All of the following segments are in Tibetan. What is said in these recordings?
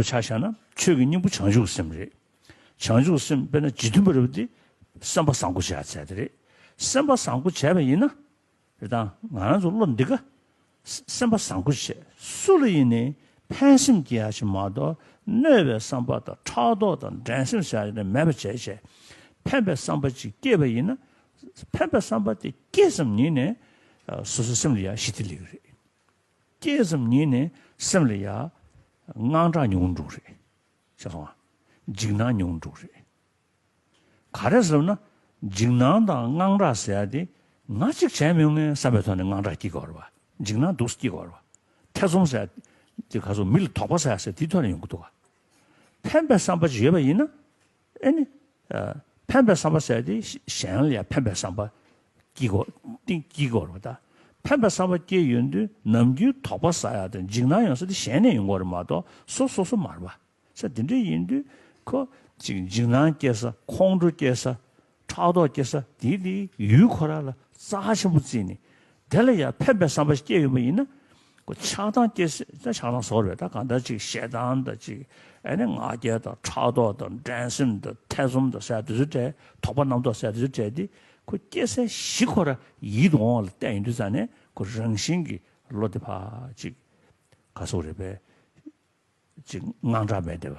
དུ་ཆ་བཞག་ན་ཆོས་ཀྱི་སྙིང་པོ་བྱང་ཆུབ་སེམས་རེད། བྱང་ཆུབ་སེམས་དཔེར་ན་ཇི་མཐུན་པར་རེད་དེ་སེམས་པ་བཟང་པོ་བྱས་ཚད་དེ་རེད། སེམས་པ་བཟང་པོ་བྱས་པ་ཡིན་ན། རེད་དང་ང་རང་ཚོ་བློ་འདི་ཀ། སེམས་པ་བཟང་པོ་བྱས་སུ་ལ་ཡིན་ནི་ཕན་སེམས་སྐྱེ་ཡག་ཆེ་མ་གཏོགས་གནོད་པའི་བསམ་པ་དང་ཕྲག་དོག་དང་འགྲན་སེམས་བྱ་ཡག་ནི་མེད་པ་བྱས་བྱས། ཕན་པའི་བསམ་པ་ཅིག་སྐྱེས་པ་ཡིན་ན། ཕན་པའི་བསམ་པ་དེ་སྐྱེས་ཙམ་ཉིད་ནས་སོ་སོའི་སེམས་ལ་ཡག་ཤི་དེ་ལེགས་རེད། སྐྱེས་གསུམ་ཉིད་ནི་སེམས་ལ་ཡ། དངངས་སྐྲག་ཉུང་འགྲོ་རེད། ཤེས་སོང་ཨ། འཇིགས་སྣང་ཉུང་འགྲོ་རེད། ག་རེ་བསམ་ན། འཇིགས་སྣང་དང་དངངས་སྐྲག་ཟེར་ཡ་དེ། ང་གཅིག་བྱས་མི་ངན་བསམ་པའི་ཐོག་ནས་དངངས་སྐྲག་སྐྱེ་དགོས་རེད་བ། འཇིགས་སྣང་སྡུག་ས་སྐྱེ་དགོས་རེད་བ། ཐེ་ཚོམ་ཟེར་ཡ། དེ་ག་ཚོད་མི་ལ་དོགས་པ་ཟེར་ཡ་ཟེར་དེའི་ཐོག་ནས་ཡོང་གི་འདུག་བ། ཕན་པའི་བསམ་པ་ཅིག་ཡོད་པ་ཡིན་ན། ཨེ་ནི། ཕན་པའི་བསམ་པ་བསལ་ཏེ་གཞན་ལ་ཡང་ཕན་པའི་བསམ་པ་སྐྱེ་དགོས་རེད་དཱ། ཕན་པའི་བསམ་པ་སྐྱེས་ཡོད་དུས་ནམ་རྒྱུན་དོགས་པ་ཟ་ཡག་དང་འཇིགས་སྣང་ཡོང་ས་དེ་གཞན་ནས་ཡོང་གོ་རེད་མ་གཏོགས་སོ་སོ་སོ་མར་བ། ས་དེ་འདྲ་ཡིན་དུས་ཁོ་ཅིག་འཇིགས་སྣང་སྐྱེ་ས་ཁོང་ཁྲོ་སྐྱེ་ས་ཕྲག་དོག་སྐྱེ་ས་དེས་དེའི་ཡུལ་ཁོ་རང་ལ་རྩ་ཆེན་པོ་བརྩིས་ནས་དེ་ལ་ཡང་ཕན་པའི་བསམ་པ་ཞིག་སྐྱེས་ཡོད་པ་ཡིན་ན། ཁོ་ཆགས་སྡང་སྐྱེ་སྲིད་ད་ཆགས་སྡང་ཟོར་བས་ད་གང་ལྟར་ཅིག་ཞེ་སྡང་དང་ཅིག་ཨེ་ནས་ང་རྒྱལ་དང་ཕྲག་དོག་དང་འགྲན་སེམས་དང་ཐེ་ཚོམ་དང་ཟད་དུ་ཟོས་བྲལ་དོགས་པ་རྣམ་རྟོག་ཟད་དུ་ཟོས་བྲལ་དེ་ཁོ་སྐྱེ་སའི་གཞི་ཁོ་རང་ཡིད་དུ་འོང་བ་ལ་བལྟས་ཡོང་དུས་ཙམ་ནས་ཁོ་རང་བཞིན་གྱིས་བློ་བདེ་བག་ཅིག་ག་སོགས་རེ་བས་ཅིག་དངངས་སྐྲག་མེད་བདེ་བ།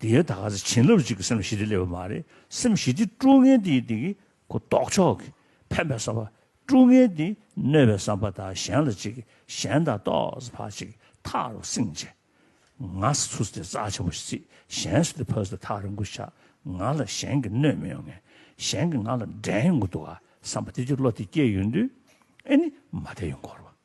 དེའི་ད་ག་ཚེ་བྱིན་རླབས་གཅིག་གིས་སེམས་ཞི་བདེ་སླེབས་པ་མ་རེད། སེམས་ཞི་བདེ་དཀྲུག་ངན་དེ་ཡི་དེ་གི་གུ་ལྡོག་ཕྱོགས་ཀྱི་ཕན་པའི་བསམ་པ། དཀྲུག་ངན་དེ་གནོད་པའི་བསམ་པ་དག་གཞན་ལ་གཅིག་གིས་གཞན་དག་ལྟོགས་སུ་འཕགས་གཅིག་གིས་ཐག་རོ་བསྲིངས་བྱས། ང་སུ་ཚུགས་སུ་དེ་རྩ་ཆེན་པོ་ཞིག་རྩིས་གཞན་སུ་དེ་ཕ་སུ་དེ་ཐག་རིང་པོ་ཞིག་ཆགས་ང་ལ་གཞན་གིས་གནོད་མི་ཡོང་ངན་གཞན་གིས་ང་ལ་འགྲན་ཡོང་གི་འདུག་ག་བསམ་པ་དེ་ཅིག་བློ་དེ་སྐྱེས་ཡོང་དུས་ཨེ་ནི་མ་བསྡད་ཡོང་གོ་རོ།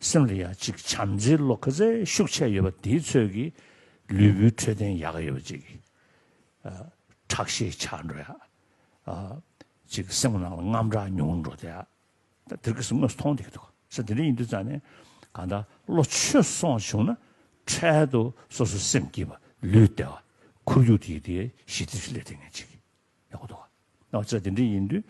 སེམས་ལ་ཡ་གཅིག་བྱམས་བརྩེའི་བློ་ཁ་ཚད་ཤུགས་ཆད་ཡོད་པ་དེའི་ཚོད་ཀྱིས་ལུས་པོའི་འཕྲོད་བསྟེན་ཡག་ཡོད་པ་ཅིག་ཁྲག་ཤེད་ཆག་འགྲོ་ཡག་ཅིག་སེམས་ནང་ལ་རྔམ་དྲག་ཉུང་འགྲོ་དེ་ཡག་ད་དེར་གི་སུ་དངོས་སུ་མཐོང་དེ་གི་འདུག་ས་དེ་འདྲ་ཡིན་དུས་ཙང་ནས་གང་ལྟར་བློ་ཆོས་སོང་བྱུང་ན་འཕྲལ་དུ་སོ་སོ་སེམས་སྐྱིད་པ་ལུས་བདེ་བ་ཁོར་ཡུག་དེ་ཡི་དེ་ཞི་བདེ་ཞིག་སླེབས་ཐེབས་ངེས་ཅིག། ཡག་པོ་འདུག་ག་ནགས་ཚལ་དེ་འདྲ་ཡིན་དུས་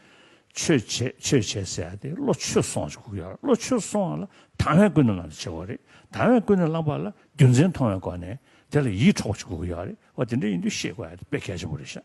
ཆོས་བྱས་ཆོས་བྱས་ཟེར་ཡ་དེ་བློ་ཆོས་སོང་ཅིག་གུག་ཡ་བློ་ཆོས་སོང་བ་ལ་དང་བས་ཀུན་ནས་བླངས་ཏེ་བྱེད་དགོས་རེད་དང་བས་ཀུན་ནས་བླངས་པ་ལ་རྒྱུ་མཚན་མཐོང་བའི་སྒོ་ནས་དེ་ལ་ཡིད་འཕྲོག་པ་ཅིག་གུག་གི་ཡོད་རེད་བ་དེ་འདྲ་ཡིན་དུས་ཤེས་དགོས་ཡ་དེ་དཔེ་གལ་ཆེན་པོ་རེད་ཤག།